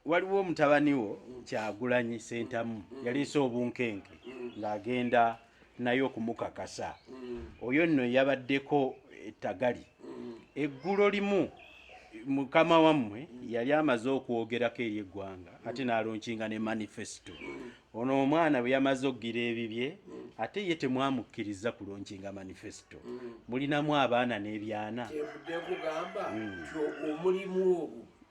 waliwo mutabani wo kyagulanyi sentamu yaleese obunkenke ng'agenda naye okumukakasa oyo nno yabaddeko ettagali eggulo limu mukama wammwe yali amaze okwogerako eri eggwanga ate n'alonkinga ne manifesito ono omwana bwe yamaze okugira ebibye ate ye temwamukkiriza kulonkinga manifesito mulinamu abaana n'ebyana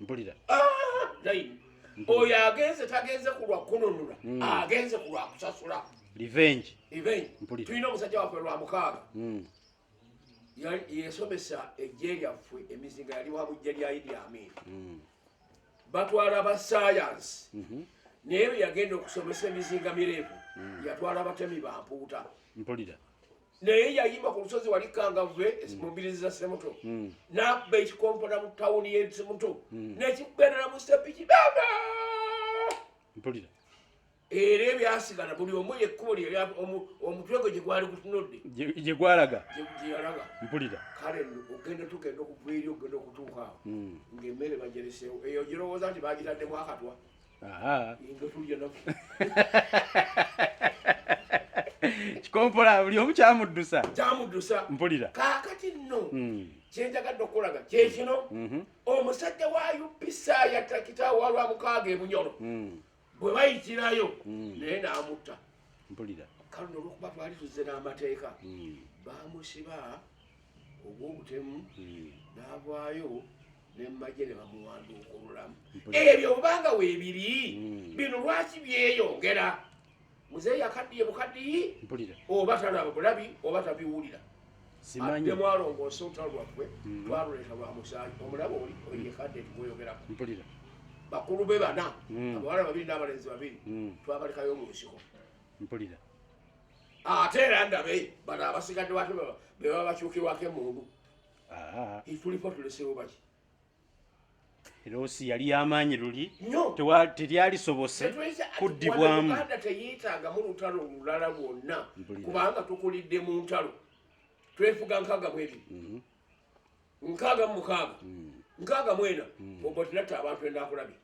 mpulira oyo agenze tagenze ku lwa kununula hmm. agenze ku lwa kusasula revenge revenge mpulira tulina omusajja waffe lwa mukaaga hmm. yesomesa ejje lyaffe emizinga yali wa bujja lya idi amin hmm. batwala ba sayansi mhm. naye beyagenda okusomesa emizinga mirevu yatwala batemi bampuuta mpulira naye yayima ku lusozi wali kangavve hmm. mubirizi za semuto hmm. nabba ekikompona mu tawuni yesemuto hmm. nekikugendera mu sepiki baba mpulira era ebyasigala buli omu yekkubo omutwe gwe gyegwali gutunudde gyegwalaga gyeyalaga mpulira kale ogenda tugenda okuva eri ogenda okutuukaawo ngaemmere bajereseewo eyo girowooza nti bagitaddemu akatwa kikompola buli omu kyamuddusa kyamuddusa mpulira kakati nno hmm. kyenjagadde okukulaga kyekino hmm. mhm. omusajja wa upisa yatakita walwa mukaaga ebunyolo hmm. bwe bayitirayo naye namutta mpulira kale nolwokuba twali tuzze n'amateeka bamusiba ogwobutemu navaayo nemmagye ne bamuwanduuka olulamu ebyo obanga weebiri hmm. bino lwaki byeyongera muzeeyi akaddiye bukaddiyi oba talaba bulabi oba tabiwulira nemwalongoosa olutalo lwaggwe hmm. lwaluleeta lwa musaayi omulaba oli oyekadde tikoyogerako bakulu be bana hmm. abawala babiri n'abalenzi babiri twabalekayo mu nsiko mpulira ate era ndabe bano abasigadde watu bebaba bakyukirwako emundu Ah. Itulipo tulesewo baki. Erosi yali amaanyi luli tewa telyali sobose kuddibwamu. Uganda teyetaaga mu lutalo olulala lwonna kubanga tukulidde mu ntalo. Twefuga nkaaga mwebiri. Mhm. Nkaaga mu mukaaga. Mhm. Nkaaga mwena. Mhm. Obotinata abantu endakulabye.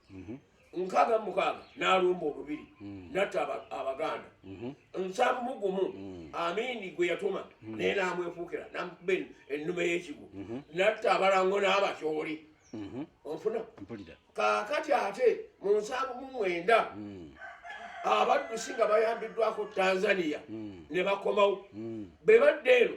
nkaaga mu mukaaga n'alumba olubiri hmm. natta abaganda mhm. nsanvu mu gumu hmm. amiini gwe yatuma hmm. naye n'amwefuukira namukuba ennume y'ekigu mhm. natta abalango n'abatyoli mhm. onfuna kaakati ate mu nsanvu mu mwenda abaddusi nga bayambiddwako tanzania ne bakomawo be badde eno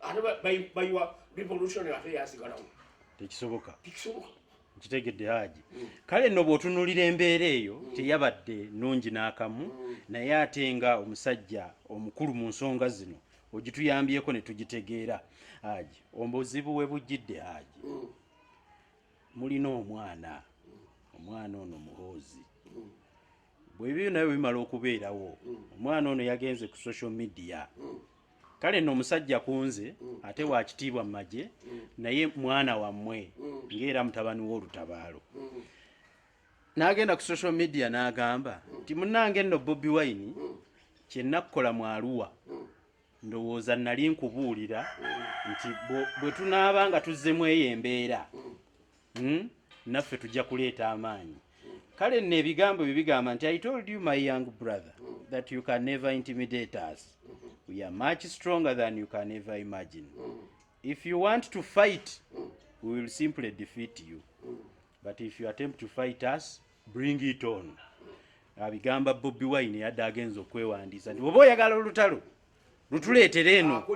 ate bayiwa revolution ate yasigalawo tekisoboka tekisoboka nkitegedde haji mm. kale nno bw'otunulira embeera eyo mm. teyabadde nungi n'akamu mm. naye ate nga omusajja omukulu mu nsonga zino ogituyambyeko ne tugitegeera haji obuzibu we bujjidde haji mulina omwana omwana ono muhoozi bwebibyo naye bimala okubeerawo omwana ono yagenze ku social media kale no omusajja kunze ate wakitiibwa mumagye naye mwana wammwe ngaera mutabani wolutabaalo nagenda ku social media nagamba nti munange nno bobi wine kyenakukola mwaluwa ndowooza nali nkubuulira nti bwetunaaba nga tuzzemu eyo embeera hmm? naffe tujja kuleeta amaanyi kale nno ebigambo bye bigamba nti i told you my young brother that you can never intimidate us we are much stronger than you can ever imagine if you want to fight we will simply defeat you but if you attempt to fight us bring it on abigamba bobi wine yadde agenza okwewandiisa nti oba oyagala olutalo lutuleetere eno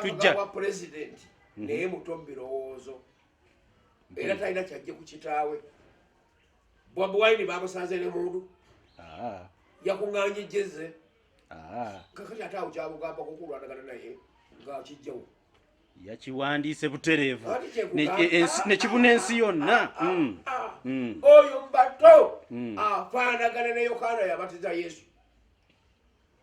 tujja mhm. naye muto mu birowoozo era talina kyajje ku kitaawe bobi wine bamusanze ne mundu ah. yakung'anya ejjeze ah. kakati ate awo kyabugamba kukulwanagana naye ngakijjawo yakiwandiise butereevu nekibuna ensi yonna ah, mm. mm. oyo mbato mm. afaanagana ne yokaana yabatiza yesu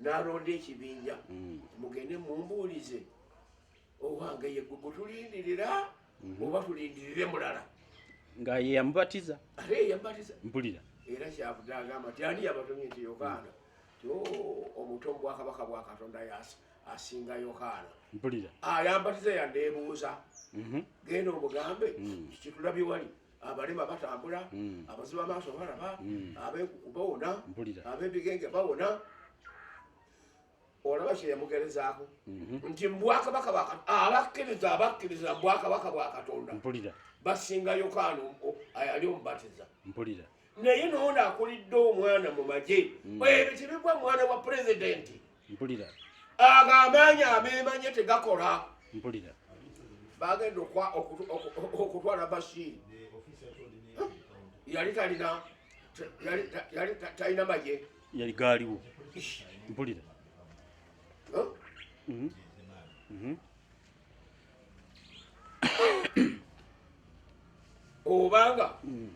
n'alonda ekibinja mm. mugende mumbuulize owange yegwe gutulindirira mm-hmm. oba tulindirire mulala nga ye yamubatiza ate yamubatiza mpulira era kyavude agamba ti ani yabatumye nti yokaana ti oh, omuto mubwakabaka bwa katonda asinga yokaana mpulira ayambatiza ah, yandeebuuza mm-hmm. genda omugambe mm. kitulabi wali abalema batambula hmm. abazibu amaaso balaba hmm. abenkuku bawona abebigenge bawona olaba kyeyamugerezaako mhm. nti mubwakabaka abakkiriza abakkiriza mubwakabaka bwa katonda basinga yokaana ayali omubatiza mpulira naye noono akulidde omwana mu magye hmm. ebyo tebigwa mwana wa pulezidenti mpulira ago amaanyi abeemanye tegakola mpulira bagenda okutwala mashini yali talina yali talina maye yali gaaliwo mpulira obanga mm.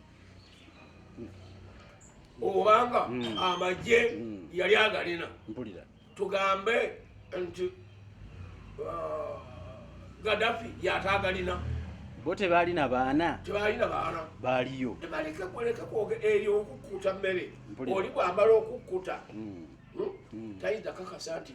obanga mm. amagye mm. yali agalina tugambe nti uh, gadafi yatagalina bo tebalina baana tebalina baana baliyo tebaleke kuleke kwoge eyo okukkuta mmere oli bwamala okukkuta hmm? tayinza kakasa nti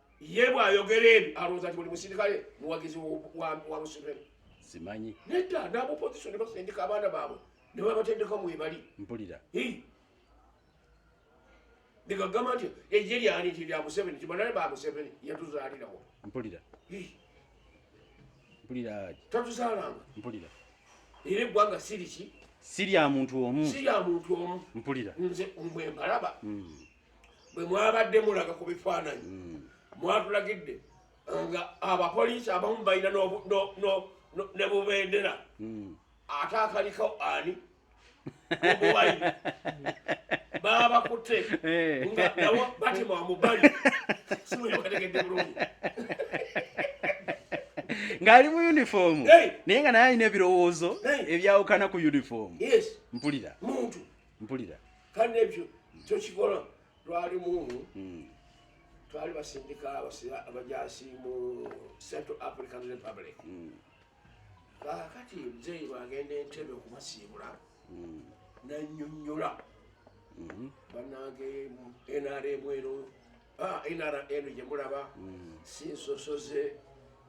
ye bwayogera ebyo alowooza nti buli musirikale muwagizi wa museveni simanyi nedda nabopozisoni basindika abaana baabwe nebabatendeka mwebali mpulira negagamba nti eje lyani nti lya museveni tibanale ba museveni yatuzaalirawo mpulira mpulira tatuzaalanga mpulira era eggwanga siriki sirya muntu omu sirya muntu omu mpulira nze mwe mbalaba mm. bwe mwabadde mulaga ku bifaananyi hmm. mwatulagidde eh, nga abapoliisi abamu balina ne bubendera hmm. ate akaliko ani obuwayi babakutte eh. nga nawo batima wamubali simuyokategedde bulungi ng'ali mu yunifoomu naye nga naye alina ebirowoozo ebyawukana ku yunifoomu mpulira muntu mpulira kandi ebyo tokikola lwali mumu hmm. twali basindika abajasi mu central african republic hmm. kakati muzeeyi bagenda entebe okubasiibula hmm. nanyonyola banange nrm eno Ah, nrm gyemulaba mm. si nsosoze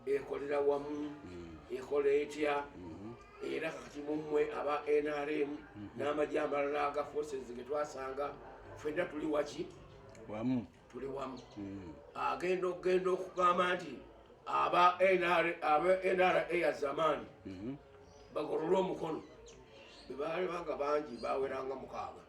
ekolera wamu mm. ekola etya mm-hmm. era kati mumwe aba nrm mm-hmm. n'amagye amalala aga forces getwasanga fenna tuli waki wamu tuli wamu mm. agenda okugenda okugamba nti aba nra ya zamani mm-hmm. bagolole omukono bebaali banga bangi baweranga mukaaga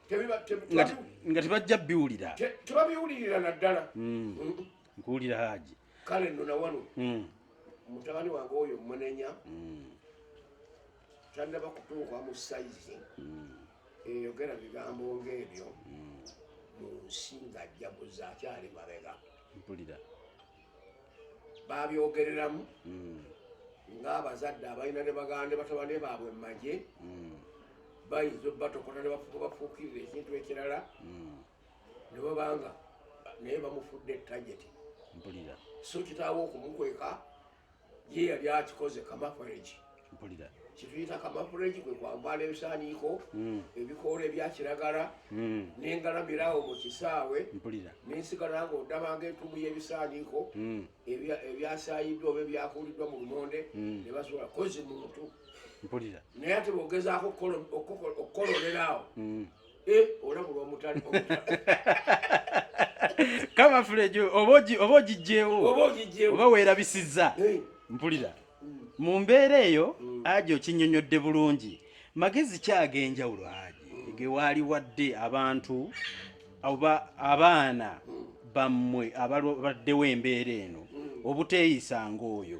nga tebajja biwulira tebabiwulirira naddala hmm. nkuwulira haji kale no nawano hmm. mutabani wange oyo munenya hmm. tannaba kutuuka mu saizi eyogera bigambo ngaebyo mu nsi ngajjabuza akyali mabega mpulira babyogereramu mm. ng'abazadde abalina ne baganda ne batabane baabwe mu magye mm. bayinza obatokota ne bafuuka bafuukirira ekintu ekirala mm. ne babanga naye bamufudde tageti mpulira so kitaawo okumukweka ye yali akikoze kamafureji kituyita kamafureji kwe kwambala ebisaaniiko hmm. ebikoola ebya kiragala hmm. nengalamirawo mu kisaawe nensigala nga ondabanga entumu y'ebisaaniiko hmm. ebyasayiddwa oba ebyakuuliddwa mu lumonde ne basobola kozi muntu naye ate bwogezaako okukololerawo Eh, kama fulejo oba ogijjewo oba weerabisizza eh. mpulira mm. mu mbeera eyo mm. aja okinyonyodde bulungi magezi ki ag'enjawulo aje mm. ge waali wadde abantu oba abaana bammwe ababaddewo embeera eno obuteeyisanga oyo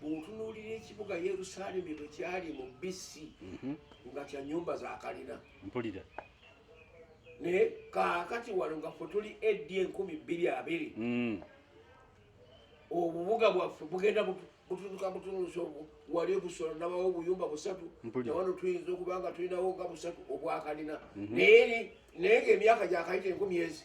bw'otunuulira ekibuga yerusaalemi bwe kyali mu bc mhm. nga kya nyumba za kalina mpulira naye kaakati wano nga fe tuli ed enkumi bbiri abiri mm. obubuga bwaffe bugenda bututuka butunusa obwo wali obusolo nabawo obuyumba busatu nawano tuyinza okuba nga tulinawo nga busatu obwakalina mhm. naye naye ngaemyaka gyakayita enkumi ezi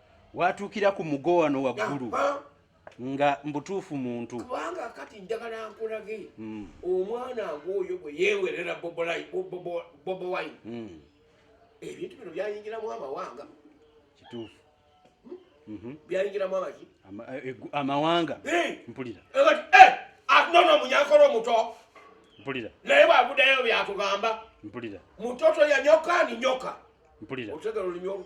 watuukira ku mugo wano waggulu nga mbutuufu muntu kubanga kati njagala nkulage hmm. omwana ng'oyo bwe yeewerera bobo wine hmm. ebintu bino byayingiramu amawanga kituufu hmm? mhm. byayingiramu amaki eh, eh, amawanga mpulira eh, ah, nono munyankolo omuto mpulira naye bwagudayo byatugamba mpulira mutoto yanyoka ni nyoka mpulira otegera olunyo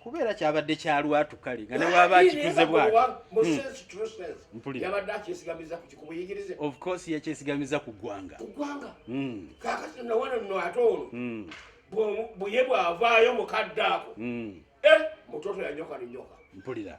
kubeera kyabadde kya lwatu kale nga newaba akikuze bwatiyabadde akyesigamiza ku kikuba yigirize of course yakyesigamiza ku ggwanga ku ggwanga hmm. kakati nawano no ate ono hmm. buye bwavaayo mukadde ako hmm. eh, mutoto yanyoka ninyoka mpulira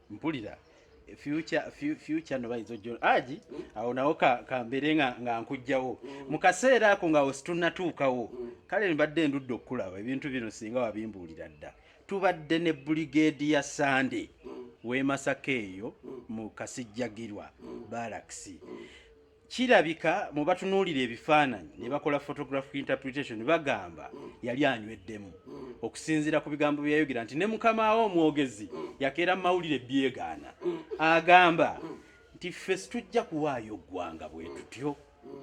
mpulira future future no bayizo jo aji awo nawo ka kambere nga nga nkujjawo mu kaseera ako nga osituna tuukawo kale nibadde ndudde okulaba ebintu bino singa wabimbuulira dda tubadde ne brigade ya sande w'emasaka eyo mu kasijjagirwa balaxi Kirabika mu batunuulira ebifaananyi ne bakola photographic interpretation bagamba yali anyweddemu okusinziira ku bigambo bye yayogera nti ne mukama we omwogezi yakeera mu mawulire byegaana. Agamba nti ffe situjja kuwaayo ggwanga bwe tutyo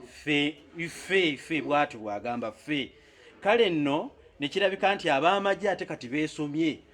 ffe ffe ffe bw'atyo bw'agamba ffe kale nno ne kirabika nti ab'amagye ate kati beesomye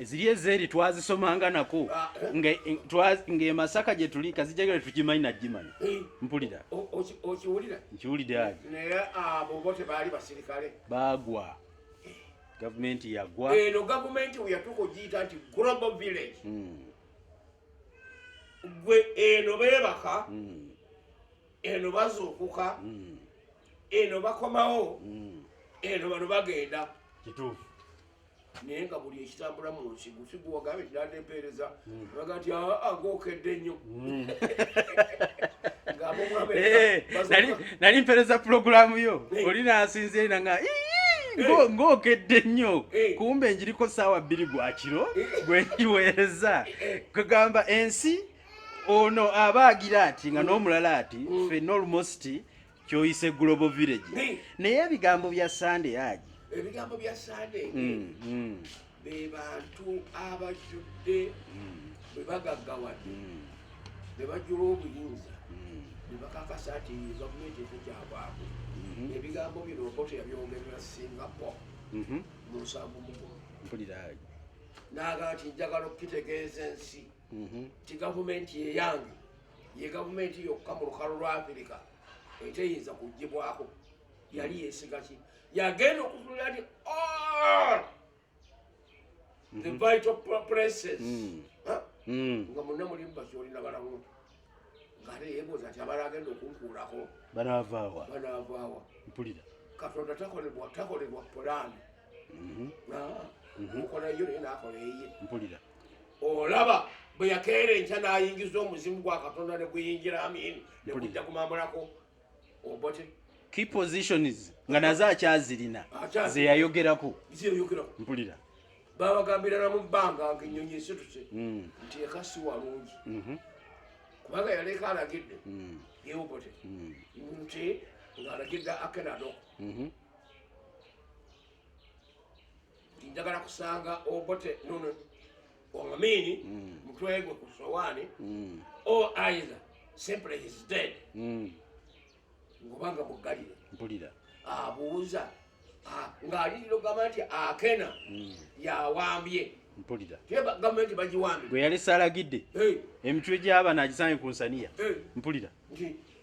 ziri ezeeri twazisomanga nako ah, eh. ng'emasaka gye tuli kazijagala tugimanyi nagimanyi eh. mpulira okiwulira nkiwulidde agi naye abo ah, bo tebaali basirikale baagwa eh. gavumenti yagwa eno gavumenti weyatuuka ogiyita nti global village hmm. gwe eno beebaka hmm. eno bazuukuka hmm. eno bakomawo eno bano bagenda kituufu naye nga buli ekitambula mu nsi gufi guwagabe kiranda empeereza hmm. aga nti agokedde nnyo hmm. eh, nali mpeereza pulogulaamu yo eh. oli nasinzire na nga eh. ngokedde nnyo kumbe njiriko saawa bbiri gwa kiro gwe njiweereza kugamba ensi ono abaagira ati nga hmm. n'omulala ati ffe nolmosti kyoyise global village naye ebigambo bya sande aji ebigambo bya sande mm, mm. bebantu abajjudde mm. bebagaggawadde bebajjula obuyinza bebakakasa nti gavumenti efe kyabwaku mm-hmm. ebigambo bino okoto yabyogerera singapore mm-hmm. mu nsanvu mukulu mpulira aji naga nti njagala okukitegeeza ensi mhm. ti gavumenti yeyange ye gavumenti yokka mu lukalo lwa afirika eteyinza kugibwako yali yesigaki yagenda okutulira ti all the mhm. vital places mm. mm. nga munna mulimu bakyolina balamu ngate yebuuza nti abala agenda okunkuulako banavaawa banavaawa mpulira katonda takolebwa takolebwa pulaani mhm. ah, mhm. okola yo naye nakola eye mpulira olaba bwe yakeera enkya n'ayingiza omuzimu gwa katonda ne guyingira amini ne gujja kumamulako obote key positions nga nazo akyazirina zeyayogerako mpulira babagambira namu bbanga nga ennyonyi esituse mm. nti eka si walungi mhm. kubanga yaleeka alagidde mm. yeobote mm. nti ng'alagidde akenado mhm. njagala kusanga obote nono omamiini mm. mutwegwe ku sowaani mm. o aiza simply his dead mm. ngobanga muggalire mpulira abuuza ng'aliriro gamba nti akena yawambye mpulira gavumenti bagiwambye gwe yali salagidde emitwe gy'abaana agisange ku nsaniya mpulira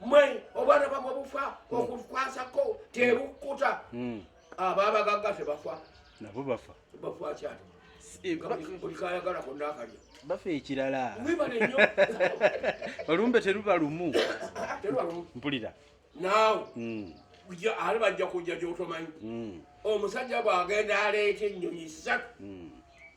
mwe obwana bamwe bufa hmm. okukwasako tebukkuta hmm. abo abagagga tebafa nabo bafa bafa kyati olikayagalako eh, nakalya bafa ekirala olumbe teruba lumu mpulira naawe hmm. ali bajja kujja gyotomanyi omusajja bwagenda aleeta ennyonyi ssatu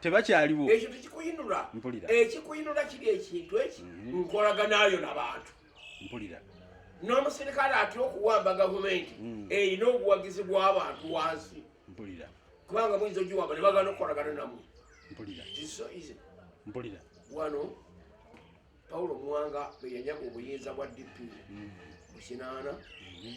tebakyaliwo ekyo tekikuyinula mpulira ekikuyinula kiri ekintu eki mhm. nkolaganayo nabantu mpulira n'omusirikale atya okuwamba gavumenti mm. erina obuwagizi bw'abantu wansi mpulira kubanga muyinza ogiwamba ne bagana okukolagana namwe mpulira mpulira wano pawulo muwanga bwe yanyaga obuyinza bwa dp mm. mu kinaana mm-hmm.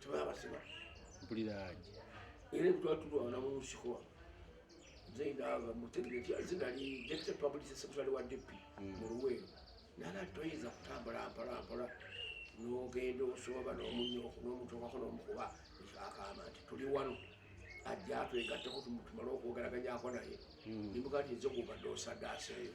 tebabasiba mpulira aje era ebitwala tulwana mu nsiko nze ndaba mutegere nti nze nali deputy public secretary wa dp hmm. mu luweero nana toyinza kutambula mpolampola nogenda osooba nomunyoko nomutokako nomukuba akamba nti tuli wano ajja atwegatteko tumale okwogeraganyako naye hmm. nimuga nti nze gubadde osadaaseeyo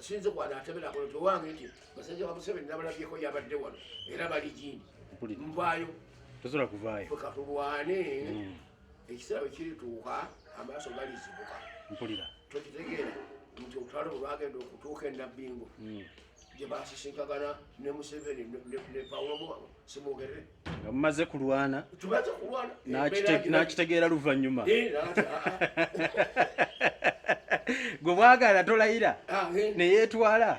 sinze kwana atemera kono towange nti basajja ba museveni nabalabyeko yabadde wano era bali gindi nvayo tosobola kuvayo katulwane mm. ekiseera bwe kirituuka amaaso galizibuka mpulira tokitegeera nti olutalo olwagenda okutuuka enabbingo mm. gye baasisinkagana ne museveni ne pawulo muwabo simwogerere nga mumaze kulwana tumaze kulwana n'akitegeera luvannyuma gwe bwagala tolayira ah, eh. neyetwala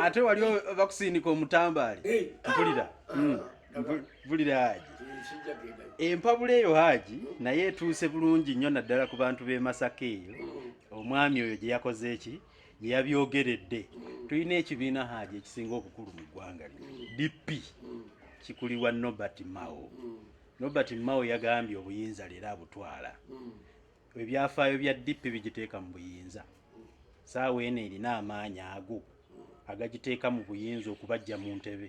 ate wali bakusindika omutambaali eh. mpulira ah, hmm. mpulira haji eh, empabula eyo haji hmm. naye etuuse bulungi nnyo naddala ku bantu b'e masaka eyo hmm. omwami oyo gye yakoze eki yeyabyogeredde tulina ekibiina haaji ekisinga obukulu mu ggwanga lino dp kikulirwa nobert mao nobert mao yagambye obuyinza leero abutwala ebyafaayo bya dp bigiteeka mu buyinza saawa eno erina amaanyi ago agagiteeka mu buyinza okubajja mu ntebe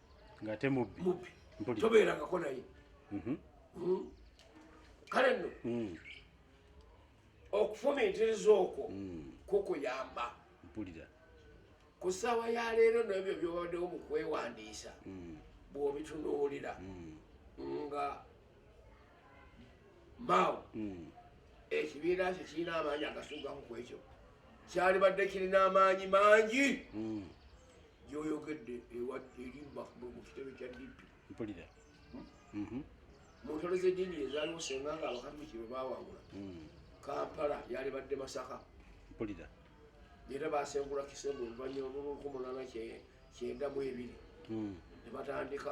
ngate mubbi mubbi tobeerangako naye mhm. hmm. kale nno hmm. okufumiitiriza okwo hmm. kukuyamba mpulira ku ssaawa ya leero nebyo byobaddewo mu kwewandiisa bw'obitunuulira nga maawo ekibiina kye kirina amaanyi agasuugamu ku ekyo kyalibadde kirina amaanyi mangi gyoyogedde eri bafumu mu kitebe kya dp mpulira hmm? mhm. mu ntalo z'eddiini ezaaliwo senga nga abakatuliki be bawangula hmm. kampala yalibadde masaka mpulira era basengula kisembo oluvanyuma lw'olukomonana kyenda mu ebiri hmm. ne batandika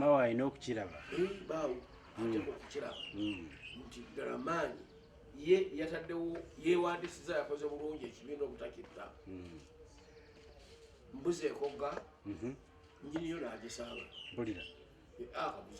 mawe alina okukiraba baawo ateekwa okukiraba nti ddala maanyi ye yataddewo yeewandisiza yakoze bulungi ekibiina obutakitta mbuzi ekogga njiniyo naagisanga bulira akabuzi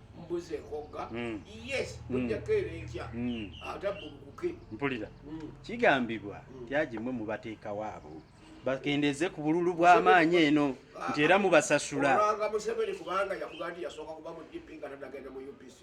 mbuze ekogga hmm. yes mujjako era enkya atabbulukuke mpulira kigambibwa tyagimwe mubateekawo abo bakendeze ku bululu bw'amaanyi eno nti era mubasasula olwanga museveni kubanga yakuga nti yasooka kuba mu dp nga tanagenda mu upc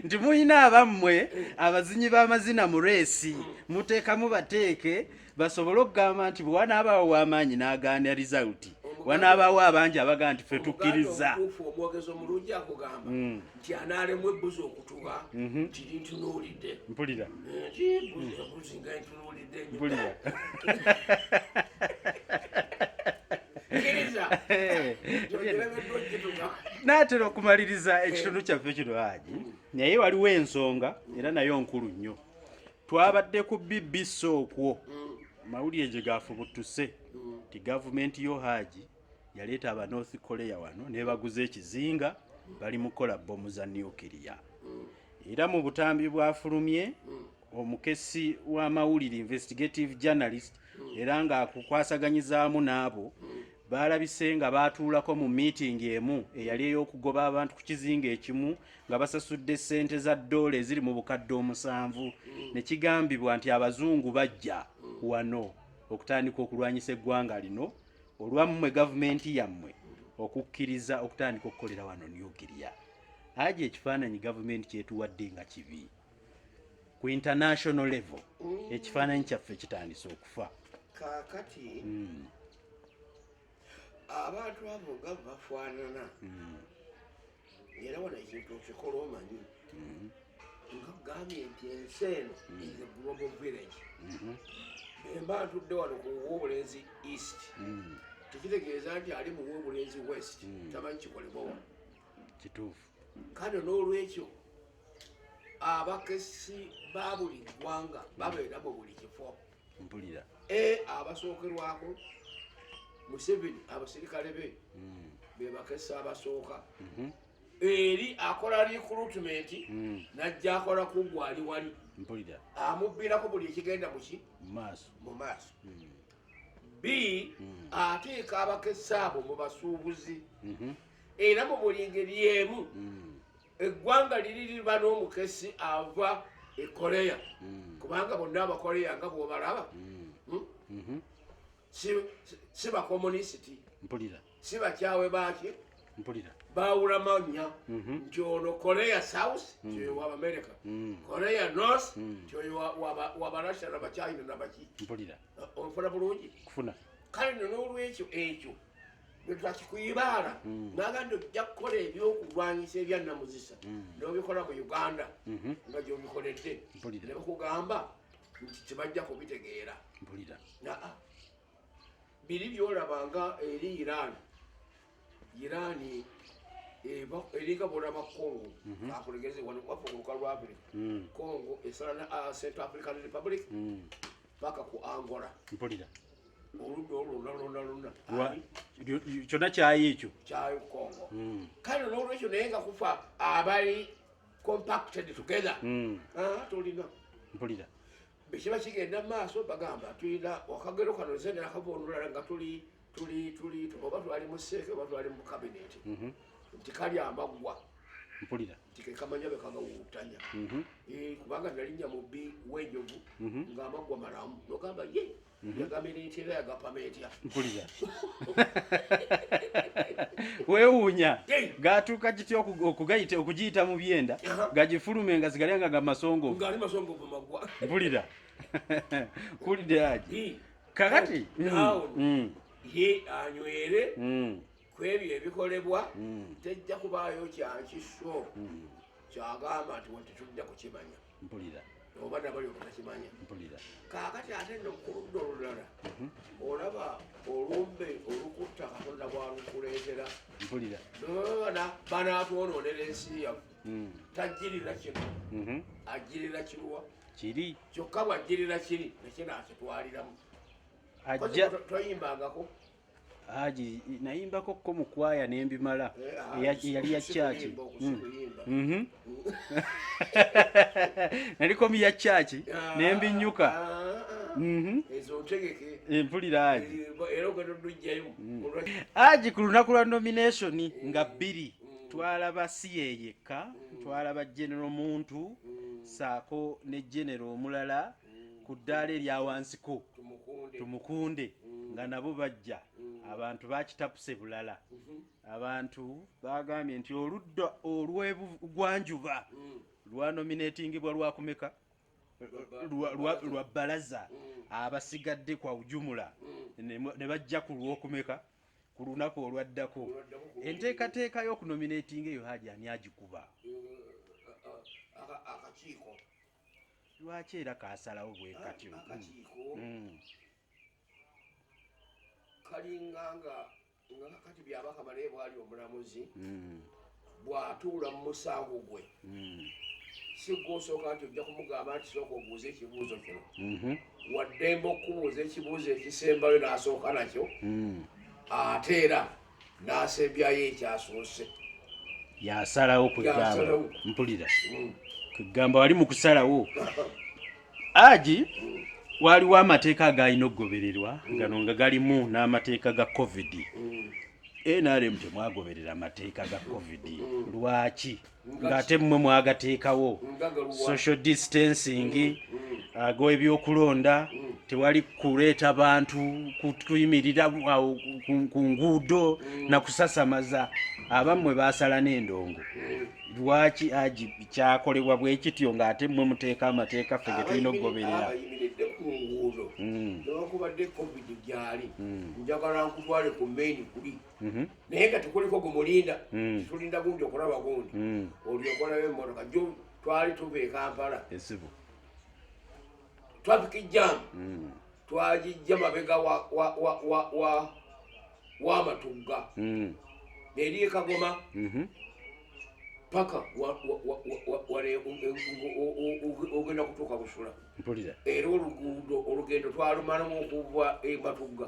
nti mulina abammwe abazinyi b'amazina mu reesi muteekamu bateeke basobole okugamba nti bwewanaabaawo w'amaanyi n'agaana rizalti wanaabaawo abangi abagaa nti fe tukkiriza omwogezi omulungi akugamba mm. nti anaalemu ebbuzi okutuba mhm. nti lintunuulidde mpulira ebuzi nga ntunuulidde mpulira naatera okumaliriza ekitundu kyaffe kino haji naye waliwo ensonga era nayo nkulu nnyo Twabadde ku BBC okwo mawulire gye gaafubutuse nti gavumenti yo Haaji yaleeta aba North Korea wano nebaguza ekizinga bali mu kukola bbomu za nuclear era mu butambi bwafulumye omukesi w'amawulire investigative journalist era ng'akukwasaganyizaamu n'abo baalabise nga baatuulako mu miitingi emu eyali ey'okugoba abantu ku kizinga ekimu nga basasudde ssente za ddoola eziri mu bukadde omusanvu ne kigambibwa nti abazungu bajja wano okutandika okulwanyisa eggwanga lino olwammwe gavumenti yammwe okukkiriza okutandika okukolera wano nukiriya aja ekifaananyi gavumenti kyetuwadde nga kibi ku international level mm. ekifaananyi kyaffe kitandise okufa kaakati mm. abantu abo nga bafaanana hmm. era wano ekintu okikola omanyi hmm. nga gambye nti ensi eno hmm. is a global village emba ntudde wano ku wobulenzi east tekitegeeza nti ali mu wobulenzi west tamanyi kikolebwa wano kituufu kale n'olwekyo abakesi ba buli ggwanga babeera mu buli kifo mpulira e abasookerwako museveni abaserikale be hmm. bebakesa abasooka mhm. eri akola recruitment hmm. najja akola kugwa ali wali mpulira amubbirako buli ekigenda muki mu maaso hmm. b ateeka abakesa abo mu basuubuzi mhm. era mu buli ngeri emu eggwanga liri liba n'omukesi ava e korea mm. kubanga bonna abakorea nga bwobalaba mm. hmm? mm-hmm. si bakomunisiti mpulira si bakyawe baaki mpulira bawula manya mm-hmm. nti ono korea south mm. kyoyo wa america korea north kyoyo wa barussia nabachina nabaki mpulira uh, onfuna bulungi kufuna kale nonolwekyo ekyo lwetwakikuyibaala hmm. naga nti ojja kukola ebyokulwanyisa ebyannamuzisa hmm. nobikola mu uganda mhm. nga gyobikoledde nebakugamba nti tebajja kubitegeera naa biri byolaba nga eri iran iran eringa bolaba congo mhm. akulegeze wano wafe kuluka lwabiri hmm. congo esala na ah, central african republic paka ku angola kyonna kyayi ekyo kyayi kongo hmm. kale nolwekyo naye nga kufa abali compacted together hmm. ah, tulina mpulira bwekiba kigenda maaso bagamba tulina akagero kano nze nakava olulala nga tuli tuli tuli oba twali mu seeke oba twali mu kabineti mhm. nti kali amaggwa mpulira tikekamanya bekagawutanya mhm. eh, kubanga nalinnya mubbi wenjovu mhm. nga amaggwa malamu nogamba ye Mhm. yagamira etya era yagapama etya mpulira weewuunya gaatuuka kitya okugayita okugiyita mu byenda gagifulume nga zigalya nga gamasongovu ngali masongovu magwa mpulira mpulidde aji kakati mm, mm. ye anywere mm. ku ebyo ebikolebwa tejja kubaayo kyakiso kyagamba nti wetetujja kukimanya mpulira oba nabali obutakimanya mpulira kaakati ate no ku ludda olulala mhm. olaba olumbe olukutta katonda bwalukuleetera mpulira bana banaatwonoonera ensi yaffe mm. tajjirira kino mhm. ajjirira kiruwa kiri kyokka bwajjirira kiri nekinaakitwaliramu ajja toyimbangako Haji nayimbako ko mu kwaya ne mbimala eyali eh, ya church hmm. mhm. nali ko mi ya church ah, ne mbinyuka ah, ah. mhm. ezo tegeke eh, mpulira haji eh, ero ko dujjayo hmm. haji ku lunaku lwa nomination nga bbiri hmm. twalaba siyeyeka twalaba general muntu saako ne general omulala mm. ku ddaala eryawansiko tumukunde mm. nga nabo bajja mm. abantu bakitapuse bulala mm-hmm. abantu bagambye nti oludda olwebugwanjuba lwanominatingibwa lwakumeka lwa balaza abasigadde kwa ujumula ne bajja ku lwokumeka ku lunaku olwaddako enteekateeka y'okunominatinga eyo haji ani agikuba uh, uh, uh, akakiiko lwaki era kasalawo bwekatyo akakiiko mm. kalinga nga nga kakati byabaka banaye bwali omulamuzi mm. bwatuula mu musango gwe mm. sigwosooka nti ojja kumugamba nti sooka obuuza ekibuuzo kino mhm. waddembe okubuuza ekibuuzo ekisembayo nasooka nakyo mm. ate era n'asembyayo ekyasoose yasalawo kugamba mpulira mm. kugamba wali mu kusalawo aji mm. waliwo amateeka agalina okugobererwa mm. gano nga galimu n'amateeka ga covid nrm temwagoberera amateeka ga covid lwaki ng'ate mmwe mwagateekawo social distancing mm, mm. ago ebyokulonda mm. tewali kuleeta bantu kuyimirira awo ku nguudo na kusasamaza abammwe baasala n'endongo lwaki agi kyakolebwa bwe kityo ng'ate mmwe muteeka amateeka ffe ge tulina okugoberera Mhm. naye nga tekuliko gumulinda mm. tulinda gundi okulaba gundi mm. olyokolayo emotoka jo twali tuva ekampala traffic jam mm. twagijja mabega wamatugga neri ekagoma mhm. paka ogenda kutuuka busula era oluguudo olugendo twalumalamu okuva ematugga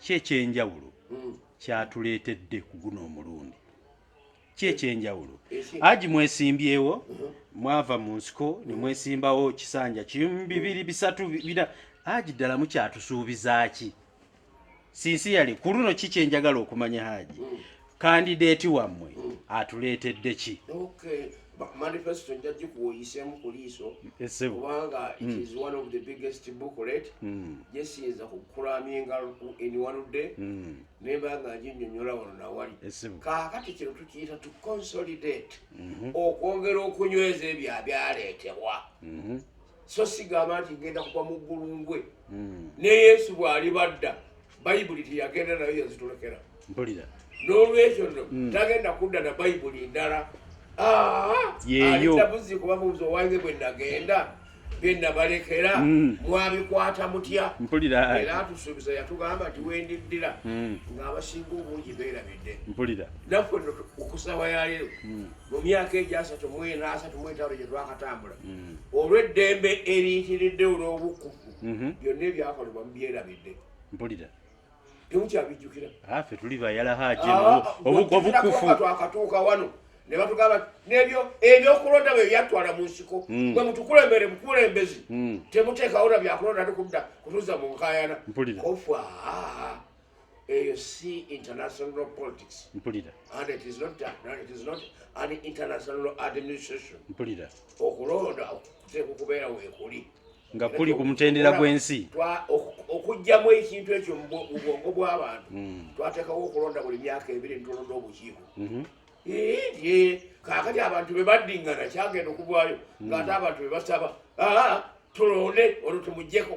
ki ekyenjawulo hmm. kyatuleetedde ku guno omulundi ki ekyenjawulo aji mwesimbyewo uh-huh. mwava mu nsiko ne mwesimbawo kisanja kimu bibiri bisatu bira aji ddala mukyatusuubiza ki sinsi yali ku luno ki kyenjagala okumanya haji hmm. kandideeti wammwe atuleetedde ki manifesto nja gikuwoyisemu ku liiso kubanga it hmm. is one of the biggest booklet hmm. gyesiyinza kukulaminga in one day hmm. nemba nga nginyonyola wano nawali kakati kino tukiyita to consolidate mhm. okwongera okunyweza ebyo abyaleetebwa mhm. so sigamba nti ngenda kuba mu ggulu ngwe hmm. ne yesu bw'aliba dda bayibuli teyagenda nayo yazitulekera mpulira n'olwekyo no hmm. tagenda kudda na bayibuli ndala alitabuzi kuba mubuzi owange bwe nagenda byenabalekera hmm. mwabikwata mutya mpulira era atusuubiza yatugamba nti wendiddira ng'abasinga obungi beerabidde mpulira naffe okusawa yaleero mu myaka egyasatu mu ena asatu mu etaano gye twakatambula mm. olw'eddembe eriyitiridde olw'obukufu mm-hmm. byonna ebyakolebwa mubyerabidde mpulira temukyabijjukira afe ah, tuli bayala haji ah, ah, obukufu twakatuuka wano ne batugamba nebyo ebyokulonda bwe byatwala mu nsiko mm. mwe mutukulembere mukulembezi mm. temuteekawo na byakulonda tukudda kutuza mu nkayana mpulira ofa eyo si international politics mpulira and it is not and it is not an international administration mpulira okulonda kuteekwa okubeera weekuli nga kuli ku mutendera gw'ensi okugyamu ekintu ekyo mu bwongo bw'abantu hmm. twateekawo okulonda buli myaka ebiri nitulonda obukiiko mhm. kakati abantu bebaddingana kyagenda okugwayo ngaate hmm. abantu bebasaba ah, tulonde olwo tumugyeko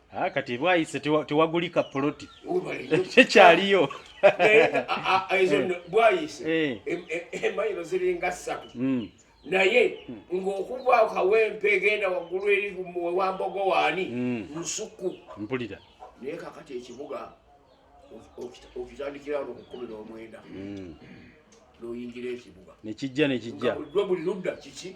Ah, kati bwayise tewagulika poloti tekyaliyo bwayise emayiro ziringa ssatu hmm. naye ng'okuva kawempe egenda waggulu eri wambogo waani hmm. nsuku mpulira naye kakati ekibuga okitandikira no kukumi n'omwenda hmm. n'oyingira ekibuga nekijja nekijja buli ludda kiki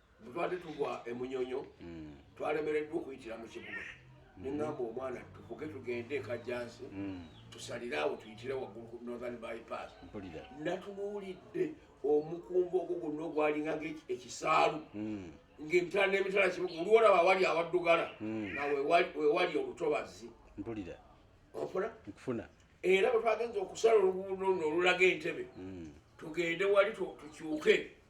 butwade tugwa emunyonyo mm. twalemereddwa okuyitira mu kibuga mm. nengamba omwana tuvuge tugende ekajjansi mm. tusalire awo tuyitire waggulu ku northern bypass natunuulidde omukumba ogwo gonna ogwalinga ngaekisaalu ngaemitala n'emitala kibuga olwolaba wali awaddugala nga wewali olutobazi ofuna era bwetwagenza okusala oluguudo luno olulaga entebe tugende wali tukyuke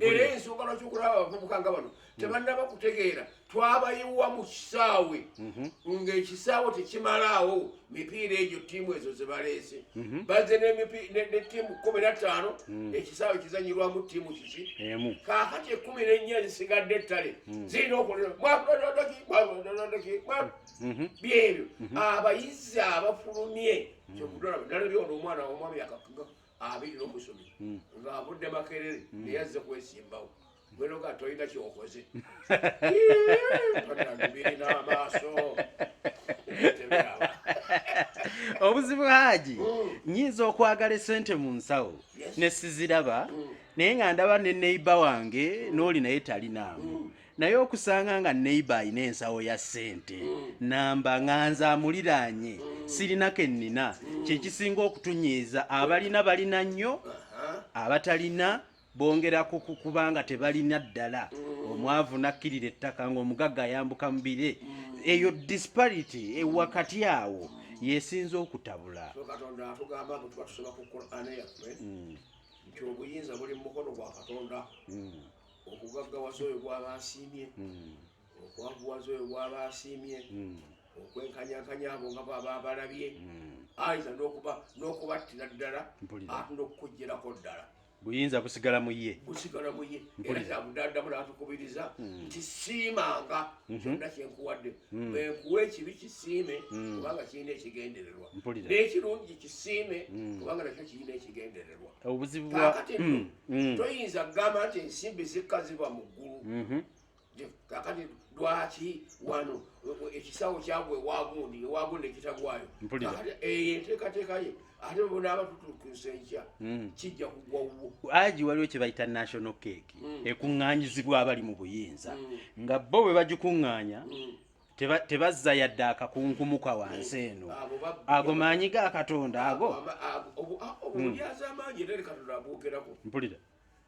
era ensonga lwaki okulaba abavubuka nga bano tebannaba kutegeera twabayiwa mu kisaawe mhm. ng'ekisaawe tekimalaawo mipiira egyo ttiimu ezo zebaleese mhm. baze ne ttiimu kumi na ttaano mhm. ekisaawe kizanyirwamu ttiimu kiki kaakati ekumi n'ennya zisigadde ettale zirina okuleaaki byebyo abayizi abafulumye kyokudalaba nalabyono omwana womwami akakugako abiri nomusomi hmm. nga avudde makerere hmm. naye azze kwesimbawo gwenoga tolina kyokoze birina amaaso obuzibu haji hmm. nyinza okwagala esente mu nsawo nesiziraba naye nga ndaba ne neiba wange nooli naye talinaamu naye okusanga nga neiba alina ensawo ya ssente namba nga nze amuliraanye sirina ke nnina kyekisinga okutunyiiza abalina balina nnyo abatalina bongera kukukuba nga tebalina ddala omwavu nakkirira ettaka ngaomugagga ayambuka mu bire eyo disparity e wakati awo yesinza okutabula nti obuyinza buli mu mukono gwa katonda mm. okugaggawaza oyo gwaba asiimye hmm. okwavuwaza oyo gwaba asiimye hmm. okwenkanyakanya abo nga baba abalabye ayinza n'okubattira ddala ate n'okukugjerako ddala buyinza busigala mu ye busigala mu ye era kyabudadamu natukubiriza hmm. nti siimanga mhm. kyonna kyenkuwadde hmm. bwenkuwa ekibi kisiime hmm. kubanga kirina ekigendererwa n'ekirungi kisiime kubanga nakyo kirina ekigendererwa mm. toyinza kugamba nti ensimbi zikka ziba mu ggulu mm-hmm. kakati lwaki wano ekisawo kyagwa ewagundi ewagundi ekitagwayo eyo enteekateeka ye ate bona abatutukusa enkya mm. kijja kugwa wuwo agi waliwo kye bayita national cake mm. ekuŋŋanyizibwa abali mu buyinza nga bo bwe bagikuŋŋanya tebazza yadde akakunkumuka wansi eno ago maanyi ga katonda ago hmm. mpulira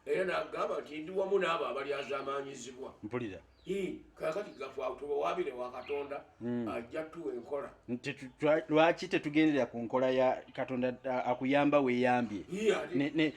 era nagamba nti ndi wamu n'abo abalyazaamaanyizibwa mpulira kakati gafwatubawabire wa katonda hmm. ajja tuwa enkola lwaki tetugendera ku nkola ya katonda akuyamba weyambye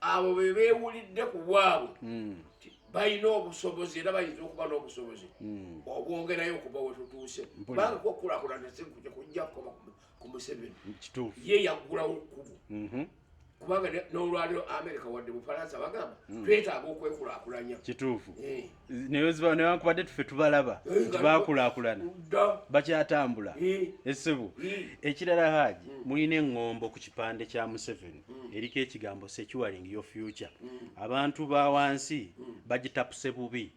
abo be beewulidde ku bwabwe hmm. balina obusobozi era bayinza okuba n'obusobozi hmm. obwongerayo okuba wetutuuse kubanga kwokulakulana sikuja kujja kukoma ku museveni ye yaggulawo kkubo mhm. kubanga n'olwaliro amerika wadde bufalansa bagamba hmm. twetaaga okwekulakulanya kituufu eh. newankubadde tufe tubalaba nti bakulakulana bakyatambula esibu ekirala haji hmm. mulina eŋŋombo ku kipande kya museveni hmm. eriko ekigambo securing your future hmm. abantu ba wansi bagitapuse bubi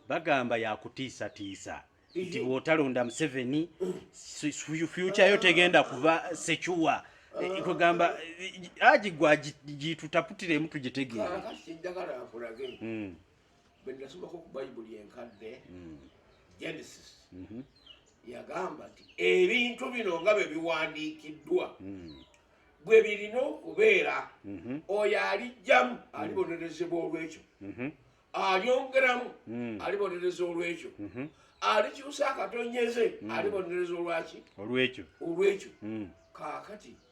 bagamba yakutiisatiisa nti bwotalonda museveni future yo tegenda kuba secuwa eh, kugamba eh, haji gwa gitutaputiremu tugitegeera bwe nasomako ku bayibuli enkadde hmm. genesis mhm. yagamba nti ebintu bino nga bwe biwandiikiddwa hmm. bwe birina okubeera mhm. oyo alijjamu hmm. alibonerezebwa olwekyo mhm. alyongeramu alibonereza olwekyo alikyusa akatonyeze alibonereza olwaki olwekyo olwekyo kakati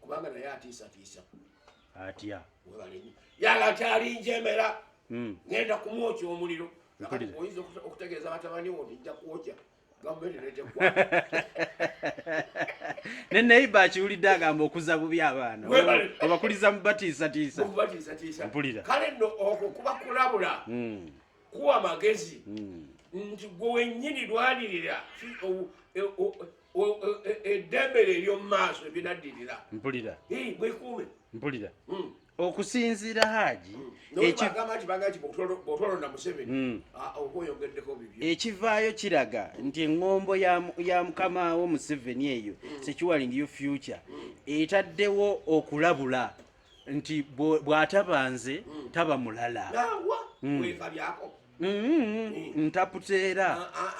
kubanga naye atiisatiisa atya yala kyalinjemera hmm. ngenda kumwokya omuliro oyinza okutegeeza batabani wo nijja kwokya ne neiba akiwulidde agamba okuza bubi abaana obakuliza mubatiisatiisaumpulira kale no okwo kuba kulabula hmm. kuwa magezi hmm. nti gwe wenyini lwanirira eddembe lyo ery'omu maaso ebinaddirira mpulira bwekuume mpulira hmm. okusinziira haaji ekivaayo kiraga nti eŋŋombo ya mukama wo museveni eyo securing you future etaddewo okulabula nti bw'ataba nze mm. taba mulala mm. mm-hmm. ntaputa era ah, ah,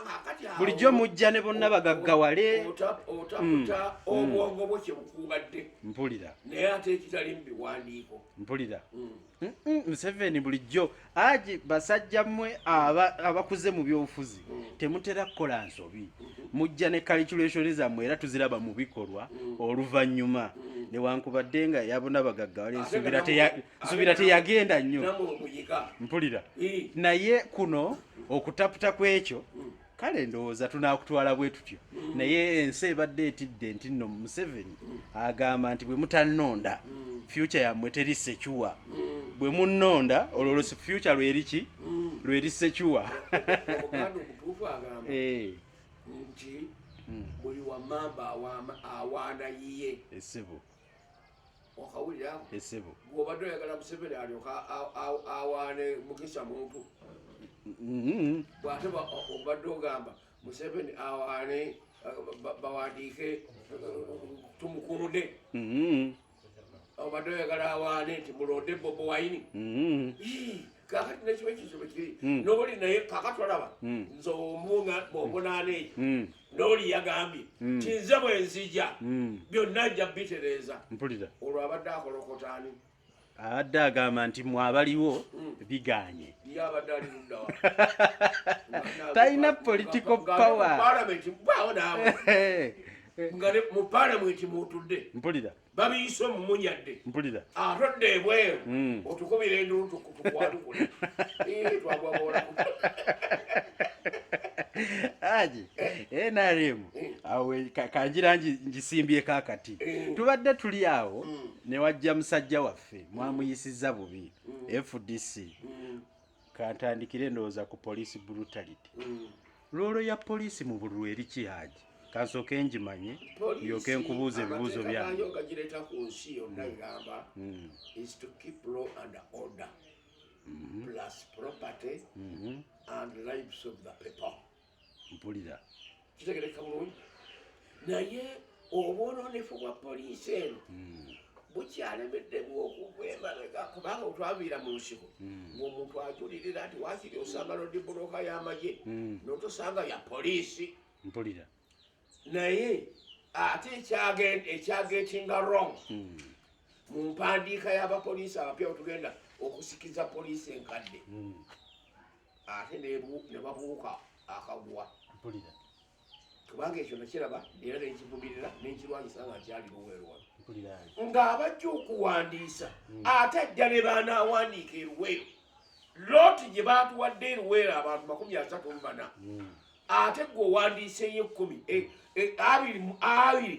ah, bulijjo mujja ne bonna bagaggawale mm. obwongo bwo kyebukubadde mpulira naye ate ekitali mu biwandiiko mpulira museveni bulijjo Aji basajja mwe abakuze mu byobufuzi temutera kukola nsobi mujja ne calculation zammwe era tuziraba mu bikolwa oluvannyuma newankubadde nga yabona bagagga wali nsubira teyagenda nnyo mpulira naye kuno okutaputa kw'ekyo kale ndowooza tunaakutwala bwe tutyo naye ensi ebadde etidde nti nno museveni agamba nti bwe mutannonda fyuca yammwe teri secuwa bwe munnonda olwo lwo fyuca lweri ki lweri secuwa eh. nti hmm. buli wamamba awaana yiye esibu okawulira esebo gwobadde oyagala museveni alyoka awaane mukisa muntu mm-hmm. bwate obadde ogamba museveni awaane bawandiike tumukunde mm-hmm. obadde oyagala awaane nti mulonde bobo wayini mm-hmm. kakati nekyo ekizo bwekiri hmm. noli naye kakati olaba hmm. nze omunga bwomunaana eyo hmm. noli yagambye kinze bwenzija byonna nja bitereeza mpulira olwo abadde akolokotani abadde agamba nti mwabaliwo biganye talina political power mu palamenti mutudde mpulira babiyise omumunyadde mpulira atodde ebweru hmm. otukubira endulu tukwatukule twagwagola aji eh. nrm eh. awe kanjira njisimbye kakati eh. tubadde tuli awo hmm. newajja musajja waffe mwamuyisiza bubi hmm. fdc kantandikire ndowooza ku police brutality mm. loolo ya police mu bululu eri ki haji kansooke ngimanye yoke nkubuuza ebibuuzo byange ogagireta ku nsi yonna mm. egamba mm. is to keep law and order mm-hmm. plus property mm-hmm. and lives of the people mpulira kitegereka bulungi naye obwononefu bwa poliisi eno hmm. bukyalemeddemu okuva emabega kubanga otwaviira mu nsiko hmm. ngaomuntu ajulirira nti wakiri osanga nodibuloka y'amagye hmm. notosanga ya poliisi mpulira naye ate ekyagetinga wrong mu mpandiika y'abapoliisi abapya otugenda okusikiza poliisi enkadde ate ne babuuka akagwa mpulira kubanga ekyo nakiraba era nekivumirira nenkirwanyisa nga nkyali luweero wano ng'abajja okuwandiisa hmm. ate ajja ne baanaawandiika eruweero looti gye baatuwadde eruweero abantu makumi asatu mu bana hmm. ate gwe owandiiseyo ekkumi e, e, abiri mu abiri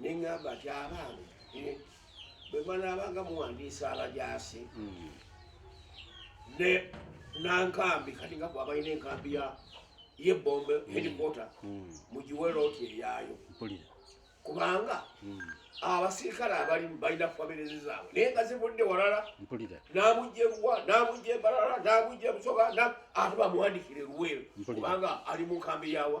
ne ŋŋamba nti abaana eh, bwe banaabanga muwandiisa abajaasi hmm. ne nankambi kati nga bwabalina enkambi ya yebombe hmm. headquarter hmm. mugiwe looti eyaayo kubanga abasirikale abalimu balina famirezi zaabwe naye nga zivudde walala namujja ebuwa namujja embalala namujja ebusoga ate bamuwandikire luweero kubanga ali mu nkambi yawa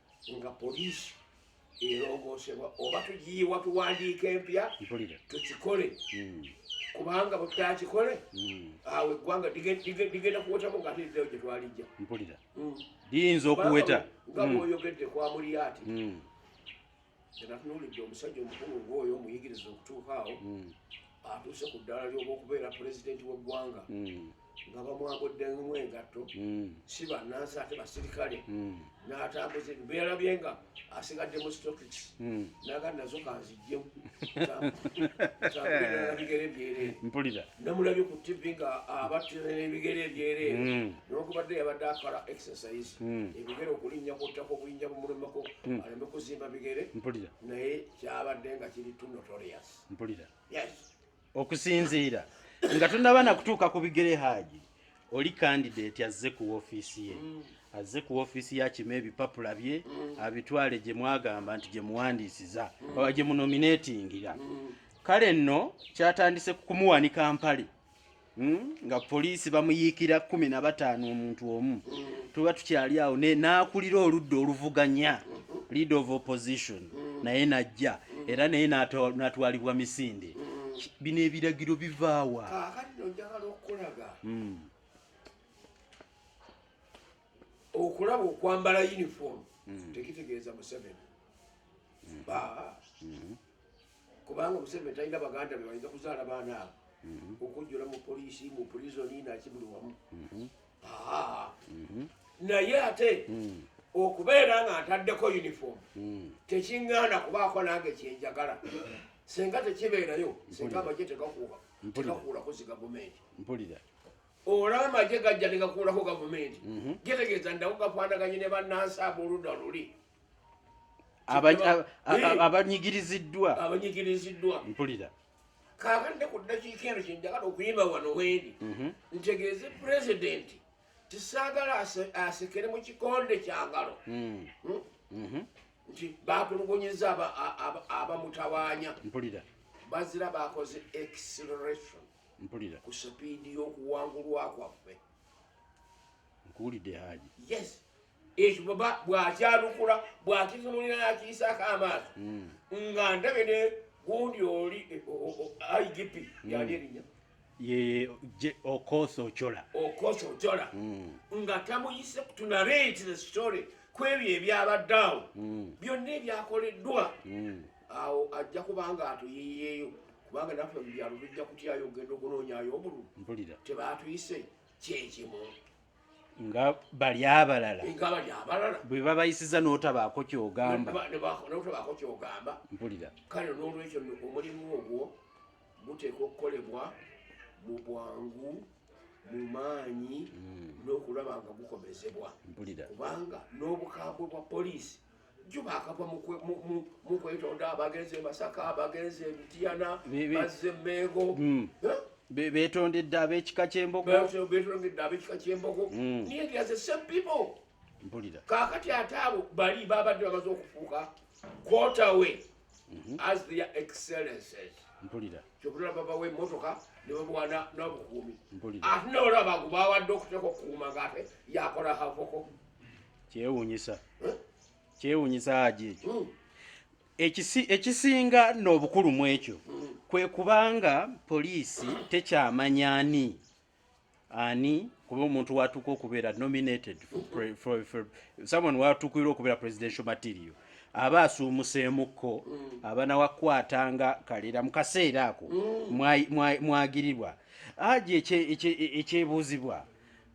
nga poliisi erongoosebwa oba tugiyiwa tuwandiika empya tukikole hmm. kubanga bwe tutakikole hmm. awo eggwanga ligenda kuwetamu nga ate lirayo gye twalijja liyinza okuweta nga bwoyogedde kwa muliyaati Natunuulidde omusajja omukulu ng'oyo omuyigiriza okutuuka awo hmm. atuuse ku ddaala ly'oba okubeera pulezidenti w'eggwanga hmm. nga bamwagoddemu engatto hmm. si bannansi ate basirikale n'atambuza ebyo beyalabye nga asigadde mu stokics naga nazo kanzijjemu bigere byeree namulabye ku tv nga abattira n'ebigere ebyereere hmm. nokubadde yabadde akola exercise hmm. ebigere okulinnya kuttako obuyinja bumulumeko hmm. aleme kuzimba bigere mpulira naye kyabadde nga kiri to notorious mpulira yes okusinziira nga tunaba nakutuuka ku bigere haaji oli kandidate azze ku ofiisi ye azze ku ofiisi yakima ebipapula bye abitwale gye mwagamba nti gye muwandiisiza oba gye munominatingira kale nno kyatandise ku kumuwanika mpale hmm? nga poliisi bamuyiikira kumi na bataano omuntu omu tuba tukyali awo n'akulira oludda oluvuganya lead of opposition naye najja era naye natwalibwa misinde bino ebiragiro bivaawa hmm. okulaba okwambala uniform hmm. tekitegeeza museveni hmm. kubanga omuseveni talina baganda be bayinza kuzaala baana abo mhm. okujjula mu poliisi mu pulizoni naki buli wamu mhm. Mhm. naye ate mm. okubeera nga ntaddeko uniform mm. tekiŋŋaana kubaako nange kyenjagala senga tekibeerayo senga amagye tegakuuba tegakuulako zi gavumenti mpulira olaba amagye gajja negakuulako gavumenti getegeeza ndakugafaanaganye ne bannansi aboludda luli abanyigiriziddwa abanyigiriziddwa mpulira kakande ku ddakiika eno kyenjagala okuyimba wano wendi mhm. ntegeeze pulezidenti tisaagala asekere mu kikonde kyangalo mm. hmm? mhm. nti batulugunyiza abamutawanya mpulira bazira bakoze acceleration mpulira ku sipiidi y'okuwangulwa kwaffe nkuwulidde haji yes ekyo baba bw'akyalukula bw'akitunulira n'akiyisaako amaaso hmm. nga ndabe ne gundi oli igp yali erinya okosa ocola okosa ocola nga tamuyise kutunale nti the story kwebyo ebyabadde awo hmm. byonna ebyakoleddwa hmm. awo ajja kubanga atuyiyeeyo kubanga naffe mubyalo bijja kutyayo ogenda okunonyayo obululu tebatuyise kyekimu nga bali abalala bwe babayisiza n'otabaako kyogamba mpulira kale n'olwekyo omulimu ogwo guteekwa okukolebwa mu bwangu mu maanyi hmm. n'okulaba nga gukomezebwa kubanga n'obukambwe bwa poliisi juba akava mukwetonda abagenzi emasaka abagenzi emitiyana bazze mengo hmm. betondedde abekika kyembogobetondedde abekika kyembogo hmm. naye there's the same people mpulira kakati ate abo bali babadde bamaze okufuuka quarterway mhm. as their excellences mpulira kyokutula babawa emotoka nebamuwana nobukuumi ate nolaba gubawadde okuteeka okukuuma ngaate yakola havoko kyewunyisa kyewunyisa haji ekyo hmm. ekisinga n'obukulu mu ekyo hmm. kwe kubanga poliisi tekyamanya ani ani kuba omuntu watuuka okubeera nominated someone watuukirwa okubeera presidential material aba asuumuseemukko hmm. abanawakwata nga kalera mu kaseera ako mwagirirwa haji ekyebuuzibwa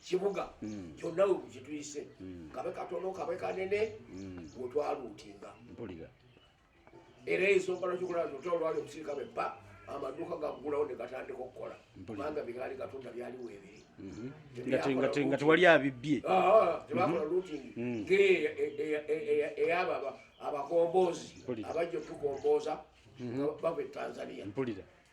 kibuga mm. kyonna we kituyise mm. kabe katono kabe kanene mm. wetwaluutinga mpulira era ensonga lwakikulaba nti otwala olwali okusirika beppa amaduuka gagulawo ne gatandika okukola kubanga bigaali gatunda byali weebiri mm-hmm. nga tewali abibbye ah, ah, tebakola mm-hmm. luutingi mm. ng'eyaba e, e, e, abakomboozi abajja okutukombooza mm-hmm. bava e tanzania mpulira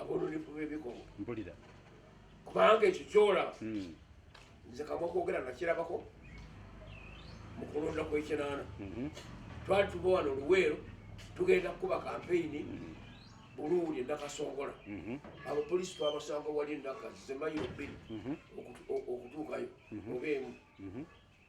abolulifu bebikomo mpulira kubanga ekyo kyolaba hmm. nze kamwa kwogera nakirabako mu kulonda kwekinaana mhm. twali tuba wano luweero tugenda kukuba kampeyini hmm. buluuli endakasongola mhm. abo polisi twabasanga wali endaka zemayiro bbiri mhm. okutuukayo oba emu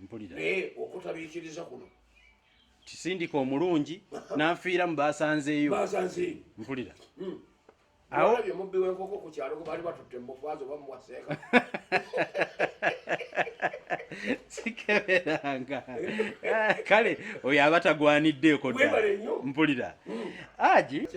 mpulira naye okutabiikiriza kuno kisindika omulungi n'anfiira mu baasanzeeyo baasanzeeyo mpulira hmm. awo bye mubbi w'enkoko ku kyalo gwe baali batutte mu bufwazi oba muwaseeka sikeberanga ah, kale oyo aba tagwaniddeeko ddala mpulira hmm. haji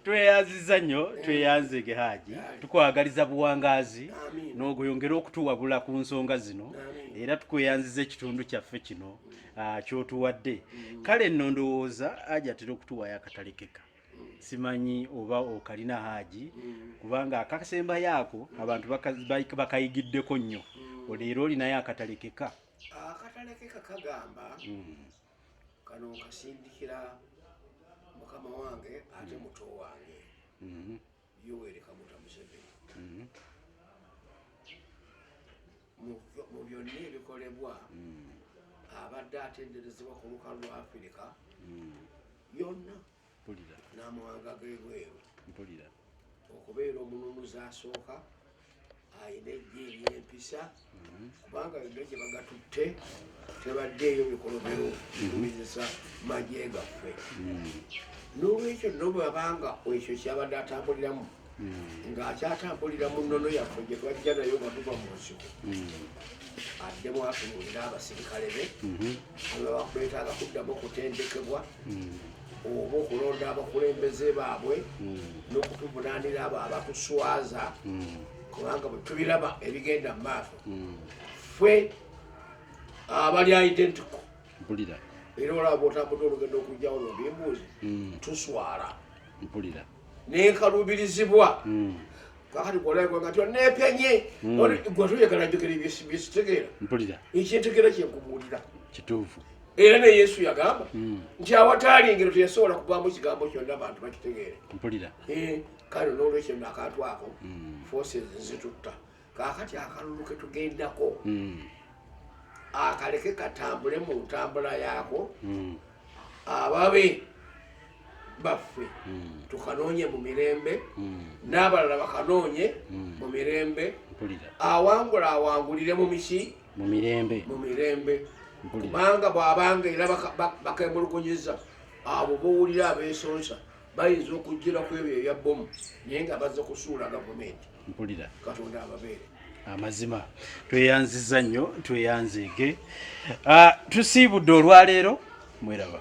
tweyanziza nnyo hmm. tweyanzege haji tukwagaliza buwangazi n'ogoyongera okutuwabula ku nsonga zino era tukweyanziza ekitundu kyaffe kino ah, kyotuwadde mm. kale nno ndowooza aja atera okutuwayo akatalekeka simanyi oba okalina haaji mm. kubanga akasembayo ako abantu bakayigiddeko nnyo mm. leero olinayo akatalekeka akatalekeka kagamba kano nkasindikira mukama wange ate muto wange mm-hmm. Yoweri Kaguta Museveni mm-hmm. mu byonna ebikolebwa mm. abadde atenderezebwa ku lukalu lwa Afirika mm. yonna n'amawanga g'ebweru okubeera omununuzi asooka alina ejja eryempisa mhm. kubanga yonna gye bagatutte tebaddeeyo mikolobero kumizisa mhm. magye gaffe mhm. n'olwekyo no bwabanga ekyo kyabadde atambuliramu ng'akyatambulira mu nnono yaffe gye twajja nayo nga tuva mu nsiko addemu atunulira abasirikale be ababakwetaaga kuddamu okutendekebwa oba okulonda abakulembeze baabwe hmm. n'okutuvunaanira abo abatuswaza hmm. kubanga bwe tubiraba ebigenda mu maaso hmm. ffe abali identico era olaba bwotambude olugendo okujjawo nobimbuuzi tuswala nenkalubirizibwa hmm. kakati kwolaikwanga ti onepenye hmm. gwetoyagala njogera byesitegeera ekyentegeera kyenkubuulira kituufu era ne yesu yagamba hmm. nti awataali ngero teyasobola kugwamu kigambo kyonna abantu bakitegeere eh, kale nolwekyo nakantu ako forces zitutta kaakati akalulu ke tugendako hmm. akaleke katambule mu ntambula yaako hmm. ababe baffe hmm. tukanoonye mu mirembe n'abalala bakanoonye mu mirembe awangula awangulire mu miki mu mirembe mu mirembe kubanga bw'abanga era bakemulugunyiza abo bowulira abeesonsa bayinza okujjira ku ebyo ebya bbomu naye nga baza kusuula gavumenti mpulira katonda ababeere amazima tweyanziza nnyo tweyanzeege ah, tusiibudde olwaleero mweraba